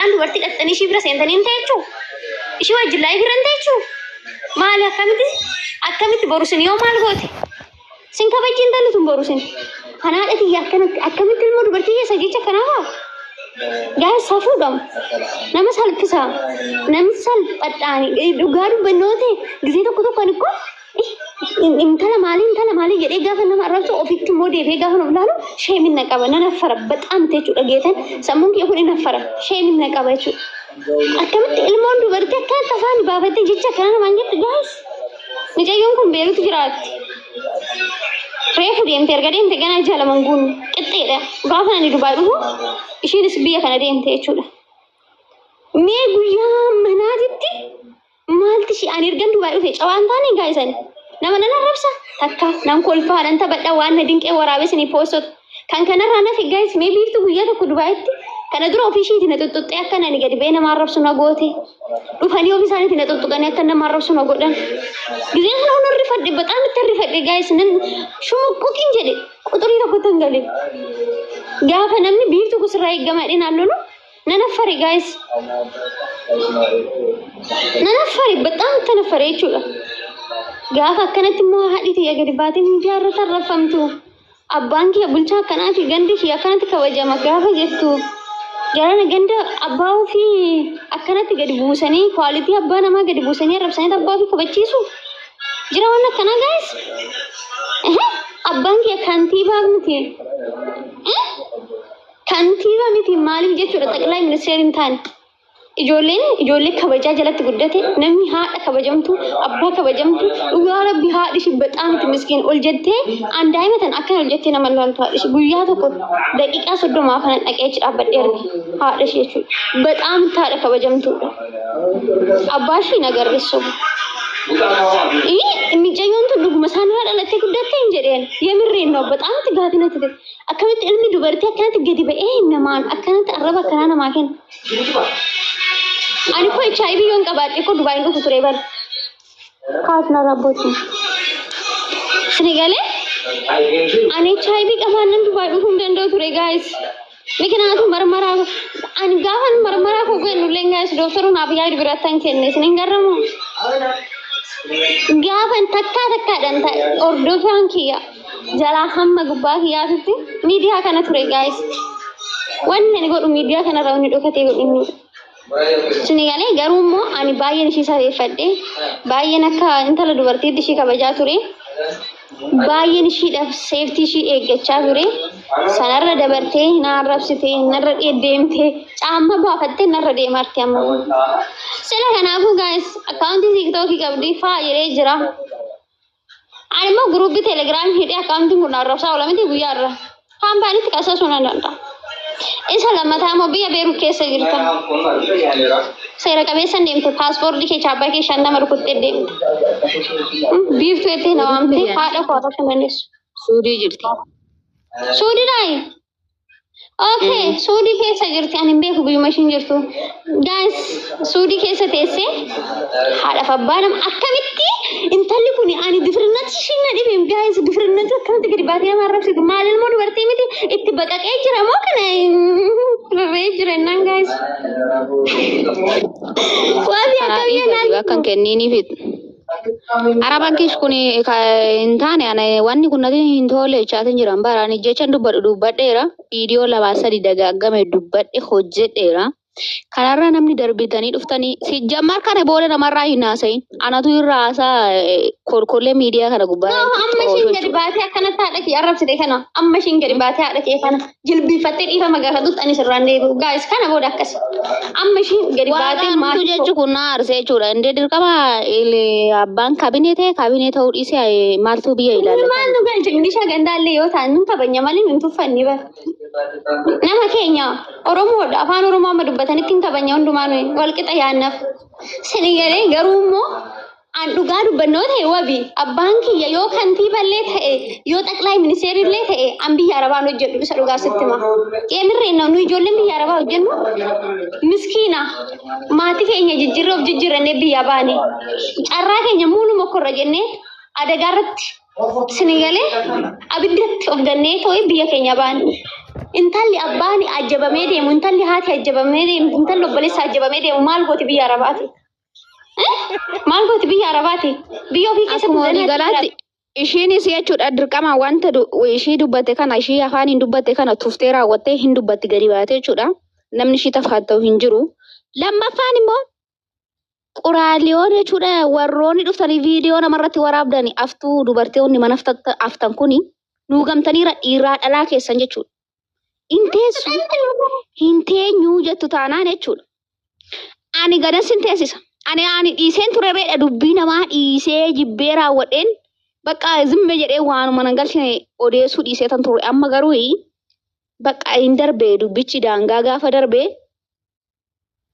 An dubartii dhaqxanii ishii bira seentanii hin ta'echu. Ishii wajjin laayii bira hin ta'echu. Maali akkamitti akkamitti boru sin yoo maal goote? Sin kabajji hin talu tun boru sin. Kan haadha tiyya akkanatti akkamitti ilmoo dubartii keessa jecha kanaa haa? Gaa safuu dham. Nama salphisa. Namni salphadhaani dhugaa dubbannoo ta'e gisee tokko tokkoon ikkoo intala maalii intala maalii jedhee gaafa nama arrabsu ofitti immoo deebi'ee gaafa nuuf laalu sheemin na qaba nan affara baxaam jechuudha geetan sammuun kiyya kun hin affara sheemin na qaba jechuudha. Akkamitti ilmoon dubartii akka akka afaan baafattee jecha kana namaan jettu gaa'is mucayyoon kun beerutu jiraatti. Reefu deemte erga deemte ganaa ija laman guunne qixxeedha gaafa ani dubaa dhufu ishiinis biyya kana deemte jechuudha. Mee guyyaa manaatitti Maalti ishee ani ergan Dubaay dhufe cawaan taane gaa isan nama nan arrabsa takka nan kolfaa nan taphadha waan na dinqee waraabee sanii poostota kan kanarraa nafe gaayis mee biiftu guyyaa tokko Dubaayitti kana dura ofii ishiiti na xuxxuxxee akka nani gadi ba'ee nama arrabsu na goote dhufanii ofii isaaniiti na xuxxuqanii akka nama arrabsu na godhan gizee kana hunda rifadhe baxaan itti rifadhe gaayis nan shumuqquqiin jedhe quxurii tokkotti hin gale gaafa namni biiftu kusirraa eeggamaa dhinaan lolu Nan affare guys. Nan affare bexaam kan affare jechuudha. Gaafa akkanatti immoo haadhi tiyya gadi baatee miidiyaa irra tarrafamtu. Abbaan kiyya bulchaa akkanaati gandi kiyya akkanatti kabajama gaafa jettu. Jarana ganda abbaa ofii akkanatti gadi buusanii kwaalitii abbaa namaa gadi buusanii arrabsanii abbaa ofii kabachiisu. Jira waan akkanaa guys. Abbaan kiyya kantiibaa miti. Kantiibaa miti maaliif jechuudha xaqilaa ministeera hin taane. Ijoolleen ijoollee kabajaa jalatti guddate namni haadha kabajamtu abbaa kabajamtu dhugaa rabbi haadhi ishii baxaa miti miskiin ol jettee aan daa'ima tan akkana ol jettee nama ilaaltu haadhi ishii guyyaa tokko daqiiqaa soddomaa kana dhaqee achi dhaabbadhee arge haadha ishii jechuudha. Baxaa miti haadha kabajamtuudha. Abbaa ishii hin agarre sobu. Ii micayyoon tun dhuguma isaanirraa dhalattee guddatte hin jedheen. Yemirreen noo baxaa miti gaafii natti ta'e. Akkamitti ilmi dubartii akkanatti gadi ba'ee namaan akkanatti arraba akkanaa namaa kenna. Ani koo HIV yoon qabaadhe koo Dubaay hin dhufu ture bara. Kaas na rabbootiin. Sini galee ani HIV qabaan nan Dubaay dhufuu hin danda'u ture gaayis. Mikinaatu marmaraa ani gaafa marmaraa koo ga'e nullee gaayis dooktaruu naaf yaadu birattan kenne isin hin garramu. Gaafa takkaa takkaadhaan ta'e hordofaan kiyya. jalaa hamma gubbaa kiyyaatutti miidiyaa kana ture gaayis. Wanni ani godhu miidiyaa kanarra wanni dhokatee godhu hin jiru. Suni galee garuu immoo ani baay'een ishii safeeffadhe baay'een akka intala dubartiitti ishii kabajaa ture. Baay'een ishiidhaaf seeftii ishii eeggachaa ture. Sanarra dabartee na arrabsite narra deemte caamma baafattee narra deemarti amma. Sila kanaafuu gaayis akkaawuntii tiiktookii qabdi faa jedhee jira. Ani immoo guruubii telegiraamii hidhee akkaawuntiin kun arrabsaa oola miti guyyaa irra. Kaampaaniitti qasasuu nan danda'a. Isa lammataa immoo biyya Beerut keessa jirta. Seera qabeessan deemte paaspoortii kee chaappaa kee shan nama rukuttee deemte. Biiftuu jettee na waamte haadha koo haasofuu hin dandeessu. Suudii jirti. Suudii naayi. Okay, suudii keessa jirti. Ani hin beeku guyyuma ishiin jirtu. Guys, suudii keessa teessee haadhaaf abbaa nama akkamitti intalli kun ani difirnati ishiin na dhibe guys difirnati akkamitti gadi baatee nama arrabsitu maal ilmoo dubartii miti itti baqaqee jira moo kana rarree jira innaan guys. Waabii Haadhii akkamiin gadi bakka hin kenniiniif Arabaan kish kun hin taane ana wanni kun natti hin toole jechaatiin jiran bara ani jechan dubbadhu dubbadheera viidiyoo lamaa sadi dagaaggame dubbadhe hojjedheera. Kanarra namni darbitanii dhuftanii sijjammar kana booda namarraa hin haasayin anatu irra haasaa eh, kolkollee miidiyaa kana gubbaa Yoo amma ishiin gadi baatee akkana taadha kee arrabsite kana amma ishiin gadi baatee haadha kee kana jilbiifattee dhiifama gaafatutti ani sirraan deebi'u. Gaa'is kana booda akkasi. Amma isheen gadi Waaqa baatee argachuu maatii jechu kun na aarse jechuudha. Indee dirqama il- abbaan kabinee ta'e kabinee ta'uu dhiisee eh, maaltu biyya Kun ilaallata. maal nu galche milisha gandaallee yoo ta'an nun kabanya malee nun tuffanni bara. Nama keenya Oromoodha afaan Oromoo amma dubbatanitti hin kabanya hundumaa nuyi walqixa yaannaaf. Sini galee garuu immoo An dhugaa dubbannoo ta'e wabi abbaan kiyya yoo kantiiballee ta'e yoo xaqlaay ministeerillee ta'e an biyya arabaan hojjedhu isa dhugaa sitti hima. Qeemirreen nu ijoolleen biyya arabaa hojjennu miskiina maatii keenya jijjiirree of jijjiirrannee biyya baane carraa keenya muuluma korra jennee adagaa irratti sini galee abiddatti of gannee too'i biyya keenya baane. Intalli abbaan ajjabamee deemu intalli haati ajjabamee deemu intalli obboleessa ajjabamee deemu maal gooti biyya arabaati. Maal gooti biyya Arabaati? Biyya ofii keessa Akkuma walii galaatti ishiinis jechuudha dirqama wanta du- ishii dubbatte kana ishii afaan hin dubbatte kana tuftee raawwattee hin dubbatti gadi baatee jechuudha. Namni ishii tafaat ta'u hin jiru. Lammaffaan immoo quraaliyoon jechuudha warroonni dhuftanii viidiyoo namarratti waraabdani aftuu dubartoonni mana aftan- aftan kuni nuugamtaniira dhiiraa dhalaa keessan jechuudha. Hin teessu. Hin teenyu jettu taanaan jechuudha. Ani gadan sin teessisa. Ani ani dhiiseen ture reedha dubbii namaa dhiisee jibbee raawwadheen bakka zimme jedhee waanuma nan galchine odeessuu dhiisee tan ture amma garuu bakka hin darbe dubbichi daangaa gaafa darbe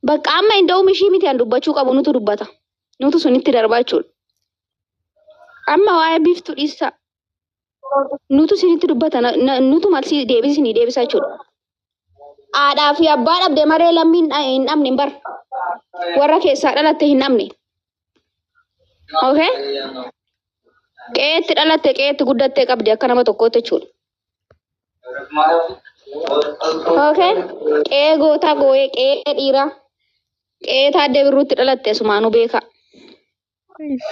Bakka amma inda'uum ishii miti an dubbachuu qabu nutu dubbata. Nutu sunitti darbaa jechuudha. Amma waa'ee biiftu dhiissaa. Nutu sinitti dubbata. na- na- Nutu malsii deebisi sinii deebisa jechuudha. Haadhaa fi abbaa dhabde maree lammii hin dha- hin dhabne hin bar. Warra keessaa dhalatte hin dhabne. Okay? Qe'eetti dhalatte qe'eetti guddattee qabdi akka nama tokkootti jechuudha. Okay. Qe'ee gootaa gooyee qe'ee dhiiraa qe'ee taaddee birruutti dhalatte sumaanuu beekaa.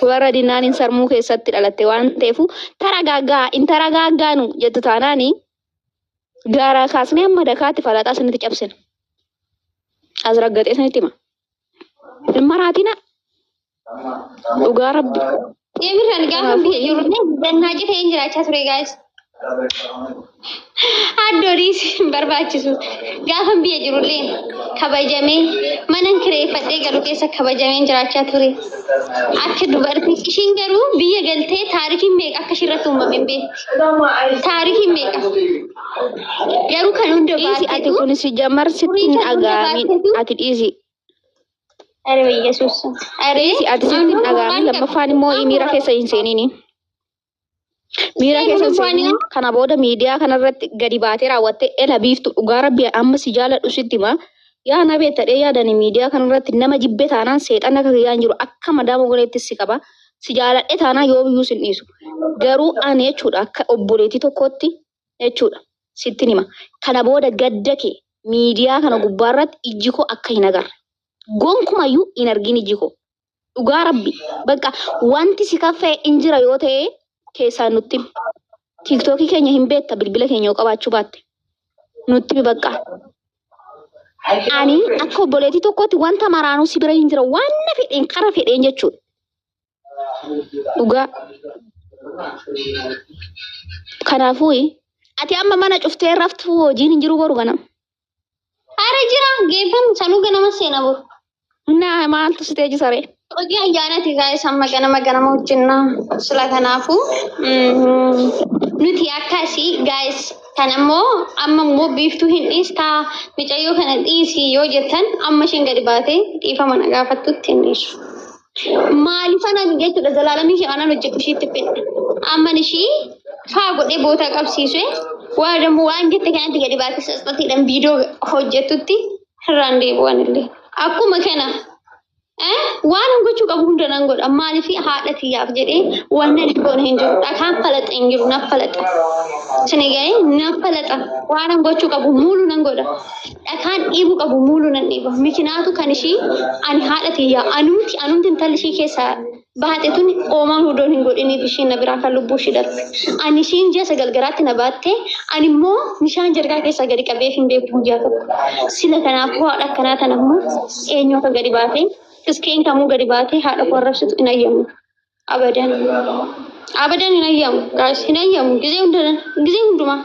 Warra dinnaan hin sarmuu keessatti dhalatte waan ta'eef taragaaggaa hin taragaaggaanu jettu taanaani gaaraa kaasnee amma dakaatti falaxaa isinitti cabsina. As raggaxee isinitti hima. Hin maraatina. Dhugaa rabbi. Deebiin ani gaafa biyya jiru dannaa cite hin jiraachaa ture gaa'is. Addoonis hin barbaachisu. Gaafa biyya jirullee kabajamee mana kireeffadhee galu keessa kabajamee hin jiraachaa ture. Akka dubartii ishiin garuu biyya galtee taarikiin meeqa akka ishirratti uumame hin beektu. Taarikiin meeqa. Garuu kan hunda Dhiisi ati baatetu kun si jamar sitti hin dhagaami. Ati dhiisi. Ari Yesuus. Ari Dhiisi ati sitti hin dhaga'amin lammaffaan immoo miira keessa hin seenini. Miira keessa hin seenini. Kana booda miidiyaa kanarratti gadi baatee raawwattee ela biiftu dhugaa rabbi amma si jaaladhu sitti hima. Yaa na beettadhee yaadani miidiyaa kanarratti nama jibbe taanaan seexanni akka kiyyaa hin jiru akka madaama goleetti si qaba. Si jaaladhe taanaan yoomiyyuu sin dhiisu. Garuu ani jechuudha akka obboleettii tokkootti jechuudha sittin hima. Kana booda gadda kee miidiyaa kana gubbaa irratti ijji koo akka hin agarre. Gonkumayyuu hin argin ijji koo. Dhugaa rabbi. Bakka wanti si kaffee in jira yoo ta'e keessaan nutti himi. Tiiktookii keenya hin beekta bilbila keenya yoo qabaachuu baatte. Nutti himi bakka. Ani akka obboleetii tokkootti wanta maraanuu si bira hin jira. Waan na fedheen kara fedheen jechuudha. Dhugaa. Kanaafuu ati amma mana cuftee raftu hojiin hin jiru boru ganama. Ara jira geeffamu sanuu ganama seena boru. Naa maaltu si teechi saree? Hojii ayyaanati gaa'is amma ganama ganama hojjenna. Sila kanaafuu mm, nuti akkasii gaa'is kan ammoo amma immoo biiftuu hin dhiistaa micayyoo kana dhiisi yoo jettan amma isheen gadi baatee dhiifama na gaafattutti hin dhiisu. Maalifan ani jechuudha zalaalamii ishee aanan hojjetu isheetti fedha. Amman ishee faa godhee bootaa qabsiisee waa dammoo waan jette kanatti gadi baatee sasxatiidhaan viidiyoo hojjettutti irraan deebi'an illee. Akkuma kana eh, waan hin gochuu qabu hunda nan godha. Maaliif haadha tiyyaaf jedhee waan nan goone hin jiru. Dhakaan falaxa hin jiru naf falaxa. Sini ga'ee naf falaxa. Waan hin gochuu qabu muulu nan godha. dhakaan dhiibu qabu muulu nan dhiiba. Mikinaatu kan ishii ani haadha tiyya anumti anumti intalli ishii keessa baate tun oomaa hudoon hin godhiniif ishiin na biraa kan lubbuu ishii darbe. Ani ishiin ji'a sagal garaatti na baatte ani immoo bishaan jargaa keessaa gadi qabee hin beeku guyyaa tokko. Sila kanaaf hoo haadha akkanaa tana immoo eenyu akka gadi baatee tiskeen kamuu gadi baatee haadha koo arrabsitu hin ayyamu. Abadan. Abadan hin ayyamu. Gaa'is hin ayyamu. Gizee hundumaa. Gizee hundumaa.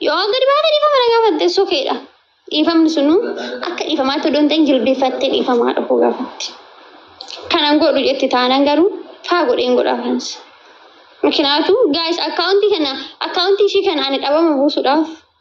Yoo gadi baatee dhiifama na gaafatte sokeedha. Dhiifamni sunu akka dhiifamaatti odoo hin ta'in jilbeeffattee dhiifamaa dhufuu gaafatti. Kanan godhu jetti taanan garuu faa godheen godha afaans. Mikinaatu gaa'is akkaawuntii kana akkaawuntii ishii kana ani dhabama buusuudhaaf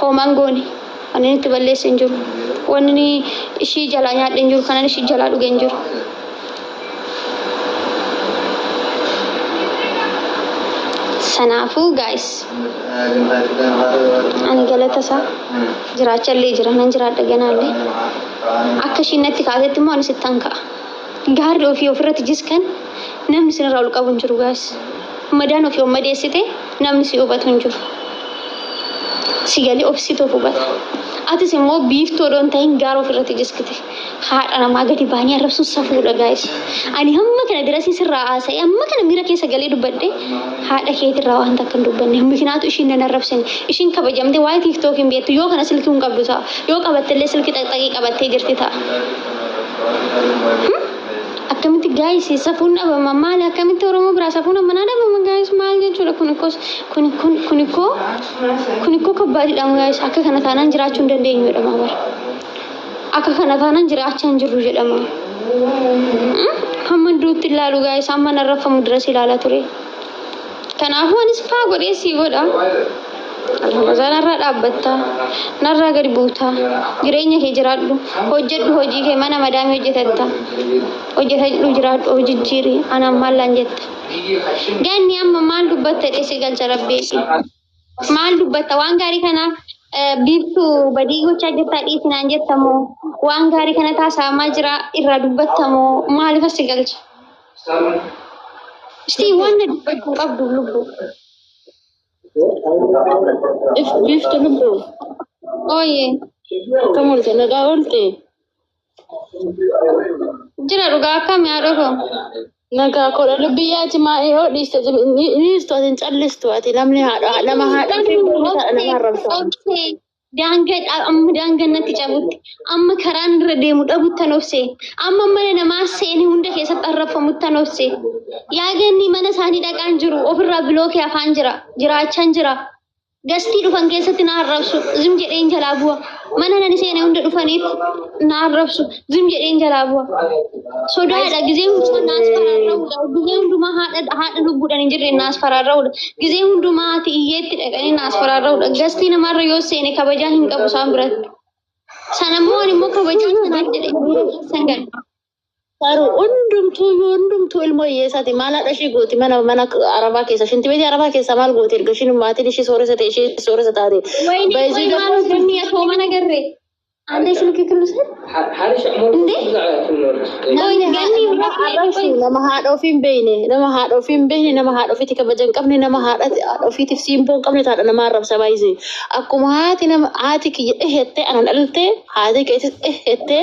Homaa hin goone. Wanni inni itti balleesse hin jiru. Wanni inni ishii jalaa nyaadhe hin jiru. Kanan ishii jalaa dhuge hin jiru. Sanaafuu guys ani galata isaa jiraacha illee jira nan jiraadha ganaa illee akka ishiin natti kaatetti immoo anis ittaan ka'a. Gaarri ofii ofirratti jiskan Namni isin irraa ol qabu hin jiru guys. Madaan ofii of madeessite namni si hubatu hin jiru. Si galee obsitu of hubata. Atis immoo biiftuu odoo hin ta'in gaara of irratti jiskite. Haadha namaa gadi baanii arrabsuun safuudha guys. Ani hamma kana dirasii sirraa haasa'ee amma kana miira keessa galee dubbadhe haadha keetii irraa waan takka hin dubbanne. Mikinaatu ishiin nan arrabsine. Ishiin kabajamte waa'ee tiiktookiin hin beektu yoo kana silkii hin qabdu ta'a. Yoo qabatte illee silkii xaqxaqii qabattee jirti ta'a. Hmm? Akkamitti gaayis safuun dhabama maali akkamitti oromoo biraa safuun ammanaa dhabama gaayis maal jechuudha kun ikkoo kun kun kun ikkoo kun ikkoo kabbaadidha gaayis akka kana taanaan jiraachuu hin dandeenyu jedhama bara akka kana taanaan jiraachaa hin jirru jedhama hamma duutti ilaalu gaayis amma narraffamu dirasi ilaala ture Kanaafuu anis faa godhee sii godha. Alhamdulillah narraa dhaabbatta. Narraa gadi buuta. Jireenya kee jiraadhu. Hojjedhu hojii kee mana madaamii hojjetatta. Hojjetadhu jiraadhu hojijjiiri. Anaan maallaan jetta. Ganni amma maal dubbatta jedhee si galcha rabbii. Maal dubbatta waan gaarii kana eh, biiftu badii gochaa jirtaa dhiisi naan jetta moo waan gaarii kana taasaamaa jira irraa dubbatta moo maaliif asi galcha? Ishtii waan na dubbachuu hin qabdu lubbu. If biiftu lubbu Ooyee. akkam oolte nagaa oolte. Jira dhugaa akkami haadha koo. Nagaa koodha lubbii yaati maa yoo dhiiste dhiistu ati hin callistu ati namni haadha nama haadha fi nama arrabsa. Obsee daangaa dha- amma daangaa natti cabutti amma karaan irra deemu dhabuttan obsee amma mana namaa seeni hunda keessatti arrabfamuttan obsee yaa ganni mana isaanii dhaqaan jiru ofirraa bilookee afaan jira jiraachaan jira Gastii dhufan keessatti na arrabsu. Zim jedheen jalaa bu'a. Mana nani seene hunda dhufaniif na arrabsu. Zim jedheen jalaa bu'a. Sodaadha. Gizee hundumaa naas faraarra'udha. Gizee hundumaa haadha haadha lubbuudhaan hin jirre naas faraarra'udha. Gizee hundumaa ati iyyeetti dhaqanii naas faraarra'udha. Gastii namaarra yoo seene kabajaa hin qabu isaan biratti. Sana immoo ani immoo kabajaa sanaaf jedhee san gala. Faru hundumtuu yoo hundumtuu ilmoo hiyyeessaati maal haadha ishii gooti mana mana arabaa keessa shinti beetii arabaa keessaa maal gooti erga ishiin maatiin ishii sooressa ta'e ishii sooressa taate. Wayne Baay'ee qoy maal gabaabaa. hojjenne atoo mana garre. Ande isin kikkillu san. Harisha ammoo Nde? Qoy ganni irraa Haadha ishii nama haadha ofii hin beekne nama haadha ofii hin beekne nama haadha ofiitti kabaja hin qabne nama haadha haadha ofiitiif siimboo hin qabne haadha nama arrabsa baay'ise akkuma haati nama haati kiyya dhehettee anan dhalte haati keetis dhehettee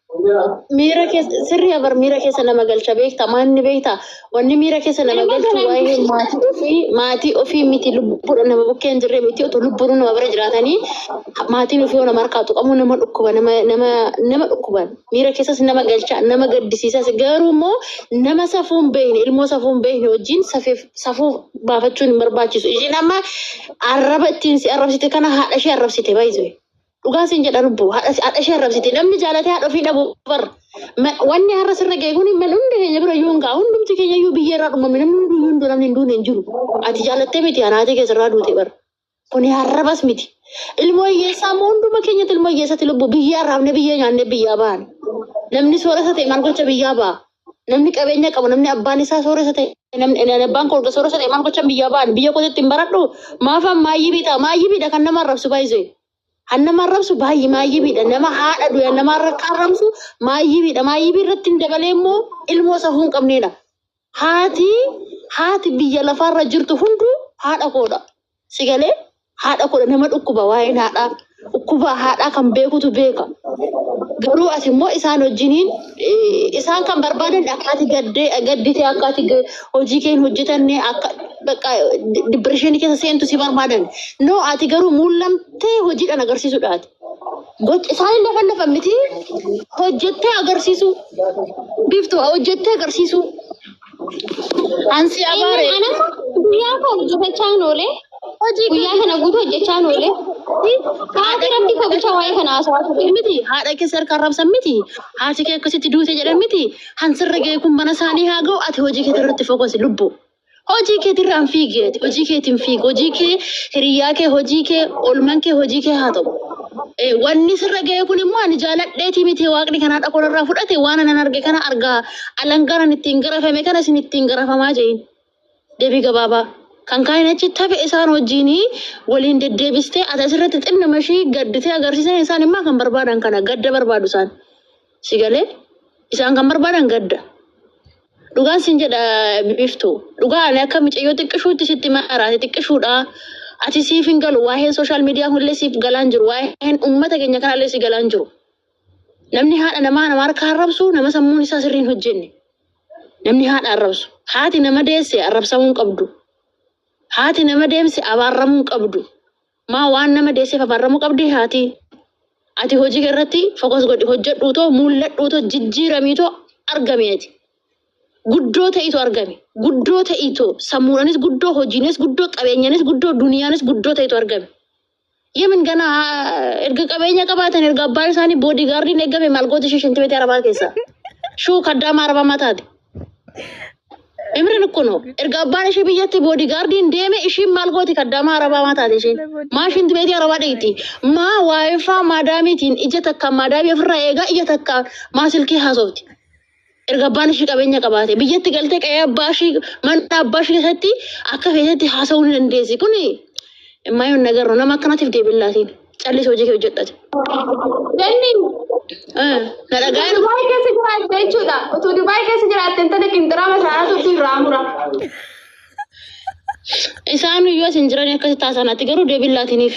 Miira keessa sirrii abar miira keessa nama galcha beekta maanni beekta wanni miira keessa nama galchu waa'ee maatii ofii maatii ofii miti lubbuudha nama bukkee hin jirre miti otoo lubbuun nama bira jiraatanii maatiin ofii nama harkaa tuqamu nama dhukkuba nama nama nama dhukkuban miira keessas nama galcha nama gaddisiisas garuu immoo nama safuun beekne ilmoo safuun beekne wajjin safeef safuu baafachuun hin barbaachisu ishiin amma arraba ittiin si arrabsite kana haadha ishee arrabsite baay'isee. Dhugaa siin jedha lubbu haadha haadha ishee arrabsiti namni jaalatee haadha ofii dhabu bar Ma- wanni har'a sirra ga'e kun man hundi keenya bira iyyuu hin ga'a hundumti keenya iyyuu biyya irraa dhumame namni hundi iyyuu hin du'e namni hin duune hin jiru ati jaalattee miti anaatee keessa irraa duute bar kuni harrabas miti ilmoo hiyyeessaa immoo hunduma keenyatti ilmoo hiyyeessatti lubbu biyyaa raabne biyya nyaanne biyyaa baane namni soorata ta'e maal gocha biyyaa ba'a Namni qabeenya qabu, namni abbaan isaa sooressa ta'e, namni ani abbaan koo erga sooressa ta'e maal gochan biyyaa ba'an, biyya kootitti hin baradhu, maafan maayyibii ta'a, maayyibiidha kan nama arrabsu baay'isee. Kan nama arrabsu baay'ee maayyibiidha, nama haadha du'e nama arra- kan arrabsu maayyibiidha, maayyibii irratti hin dabalee immoo ilmoo safuu hin qabneedha. Haati, haati biyya lafaarra jirtu hunduu haadha koodha. Si galee haadha kudha nama dhukkuba waa'een haadhaa dhukkubaa haadhaa kan beekutu beeka. Garuu ati immoo isaan wajjiniin eh, isaan kan barbaadan akkaati gaddee gadditee akkaati ga- hojii keen hojjetanne akka bakka dibbirishinii keessa seentu si barbaadan. No ati garuu mul'amtee hojiidhaan agarsiisuudhaati. Gocha isaanii lafa lafa miti hojjettee agarsiisuu. Biiftuu hojjettee agarsiisuu. Ansi abaare. Ana guyyaa koo hojjetachaa hin oole. Hojii Guyyaa kana guutuu hojjechaa hin oole. Haati rabbi koo bulchaa waa'ee kana haasawaa ture. miti haadha kee si harkaa rabsan miti haati kee akkasitti duute jedhan miti hansirra ga'e kun mana isaanii haa ga'u ati hojii keetii irratti fokosi lubbu hojii keetirraa hin fiigi ati hojii keetiin fiigi hojii kee hiriyaa kee hojii kee olman kee hojii kee haa ta'u. Eh, Wanni sirra ga'e kun immoo ani jaaladheetii miti waaqni kanaa dhaqoon irraa fudhate waan anan arge kana argaa Alangaan ani ittiin garafame kana isin ittiin garafamaa je'in. Deebii gabaabaa. Kan kaa'in achi tafe isaan wajjiin waliin deddeebistee ati asirratti xinna mashii gadditee agarsiisan isaan immaa kan barbaadan kana gadda barbaadu isaan. Si galee? Isaan kan barbaadan gadda. Dhugaan sin jedha biftu. Dhugaa ani akka micayyoo xiqqishuutti sitti maraate xiqqishuudha. Ati siif hin galu waa'een sooshaal miidiyaa kunillee siif galaan jiru waa'een uummata keenya kanallee si galaan jiru. Namni haadha namaa nama harka arrabsu nama sammuun isaa sirrii hin hojjenne. Namni haadha arrabsu. Haati nama deesse arrabsamuu hin qabdu. Haati nama deemse abaarramuu hin qabdu. Maa waan nama deesseef abaarramuu qabdi haati. Ati hojii kee irratti fokas godhi hojjedhuu too mul'adhuu too jijjiiramii too argami ati. Guddoo ta'iitu argami. Guddoo ta'iitu sammuudhaanis guddoo hojiinis guddoo qabeenyaanis guddoo duniyaanis guddoo ta'iitu argami. Yemen kana erga qabeenya qabaatan erga abbaa isaanii boodii gaardiin eegame maal goota ishee shintibeetii arabaa keessa. Shuu kaddaama arabaa mataati. Imrin kuno erga abbaan ishee biyyatti boodii gaardiin deeme ishiin maal gooti kaddaama arabaa mataati ishiin. Maa shintibeetii arabaa dheeyti. Maa waayifaa maadaamiitiin ija takka maadaamii ofirraa eegaa ija takka maa silkii haasofti. erga abbaan ishii qabeenya qabaate biyyatti galtee qa'ee abbaa ishii mana abbaa ishii keessatti akka feetetti haasa'uu ni dandeessi kun maayyoon nagarro nama akkanatiif deebiin laatiin callis hojii kee hojjedhate. Jenni Eh, Na dhagaa'e Dubaay keessa jiraatte jechuudha. Utuu Dubaay keessa jiraatte intala qinxiraama isaanii turtu irraa mura. isaan yoo isin jiran akkasitti haasa'an ati garuu deebiin laatiniif.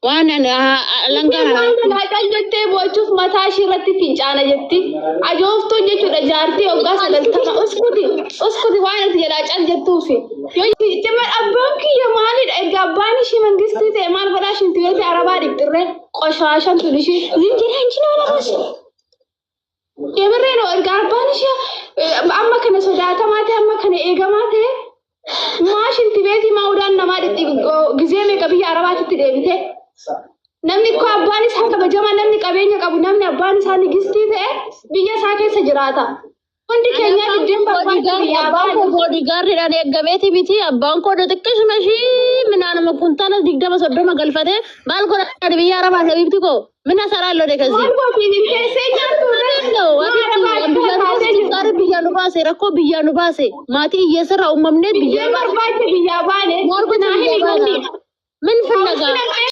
Waan an- haa- alangaan Isheen waan anaa- laaqan jettee boochuuf mataa ishee irratti fincaana jetti. Ajooftuun jechuudha jaartii waggaa sagaltama uskuti uskuti waan ati jalaa cal jettuufi. Yoo cimma abbaan kiyya maalidha erga abbaan ishee mangistii ta'e maal godhaa ishiin tuyyoota arabaa dhibxirree qoshaashan tun ishee. Zinjiraan jinaa lamas. Deemarreen erga arbaan ishee eh, amma kana sodaatamaa ta'e amma kana eegamaa ta'e maa shinti beetii maa udaan namaa dhitti gizee meeqa biyya arabaatitti deebite. Namni koo abbaan isaa kabajamaa namni qabeenya qabu namni abbaan isaa nigistii ta'e biyya isaa keessa jiraata. Hundi keenya diddeen barbaadu biyyaa Abbaan koo boodigaarriidhaan eeggameeti miti. Abbaan koo xiqqishuma ishii minaanuma kuntaala digdama soddoma galfatee maal godhan biyya arabaa sabiibti koo mina saraa lode kasi. Waan gootiin hin teessee nyaattu Gaari biyyaa nu baase rakkoo biyyaa nu baase maatii hiyyeessarraa uumamnee biyyaa Diddeen barbaadde biyyaa baane. Maal gochuu Naa hin biyyaa baana? himamne. Min fillagaa?